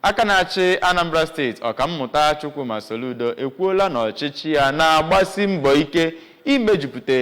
Aka na-achị Anambra steeti, Ọkammụta Chukwuma Soludo ekwuola na ọchịchị ya na-agbasi mbọ ike imejupụta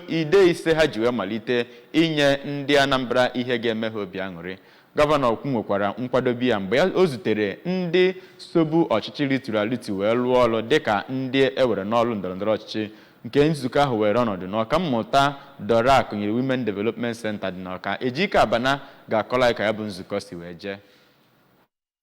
ide ise ha ji wee malite inye ndị Anambra ihe ga-eme ha obi aṅụrị. Gọvanọ kwunwekwara nkwadobe ya mgbe ya o zutere ndị sobu ọchịchị rituru aritu wee lụọ ọrụ dịka ndị e were n'ọrụ ndọrọndọrọ ọchịchị nke nzukọ ahụ weere ọnọdụ n'Ọkammụta Dora Akunyili Women Development Centre dị n'Awka. Ejike Abana ga-akọrọ anyị ka ya bụ nzukọ si wee jee.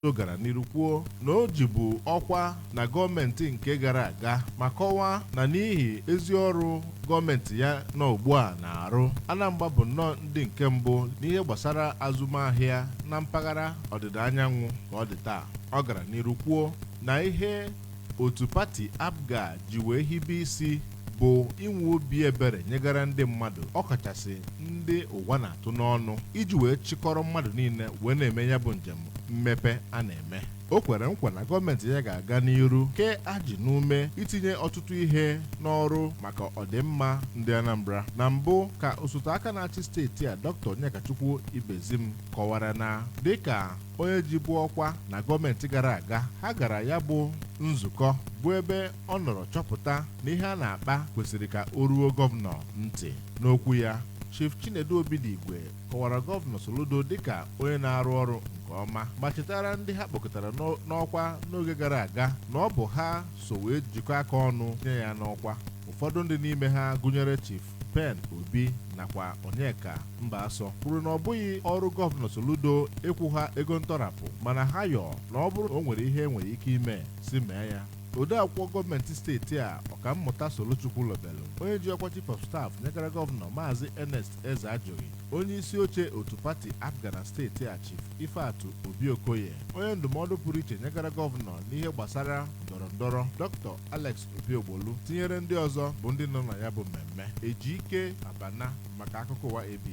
Ọ gara n'iru kwuo na o jibu ọkwa na gọọmenti nke gara aga ma kọwaa na n'ihi ezi ọrụ gọọmenti ya nọ ugbu a na-arụ, Anambra bụ nnọọ ndị nke mbụ n'ihe gbasara azụmahịa na mpaghara ọdịda anyanwụ ka ọ dị taa. Ọ gara n'iru kwuo na ihe otu pati APGA ji wee hibe isi bụ inwe obi ebere nyegara ndị mmadụ ọkachasị ndị ụwa na-atụ n'ọnụ iji wee chịkọrọ mmadụ niile wee na-eme ya bụ njem mmepe a na-eme o kwere nkwa na gọọmenti ya ga-aga n'iru kee ajị n'ume itinye ọtụtụ ihe n'ọrụ maka ọdịmma ndị Anambra na mbụ ka osote aka na-achị steeti a Dr. Onyekachukwu Ibezim kọwara na dịka onye jibu ọkwa na gọọmenti gara aga ha gara ya bụ nzukọ bụ ebe ọ nọrọ chọpụta na ihe a na-akpa kwesịrị ka o ruo gọvanọ ntị n'okwu ya Chief Chinedu Obidigwe kọwara gọvanọ Soludo dịka onye na-arụ ọrụ nke ọma ma chetara ndị ha kpọkọtara n'ọkwa n'oge gara aga na ọ bụ ha so wee jikọ aka ọnụ nye ya n'ọkwa ụfọdụ ndị n'ime ha gụnyere Chief Ben Obi nakwa Onyeka Mbasọ kwuru na ọ bụghị ọrụ gọvanọ Soludo ịkwụ ha ego ntọrapụ mana ha yọọ na ọ bụrụ na o nwere ihe e nwere ike ime si mee ya Odeakwụkwọ gọọmenti steeti a, Ọkammụta Solo Chukwulobelu, onye ji ọkwa Chief of Staff nyegara gọvanọ Maazị Ernest Ezeajughi, onye isi oche otu pati APGA na steeti a Chief Ifeatụ Obi Okoye, onye ndụmọdụ pụrụ iche nyegara gọvanọ n'ihe gbasara ndọrọndọrọ Dr. Alex Obiogbolu tinyere ndị ọzọ bụ ndị nọ na ya bụ mmemme. Ejike Abana maka akụkọ ụwa AB.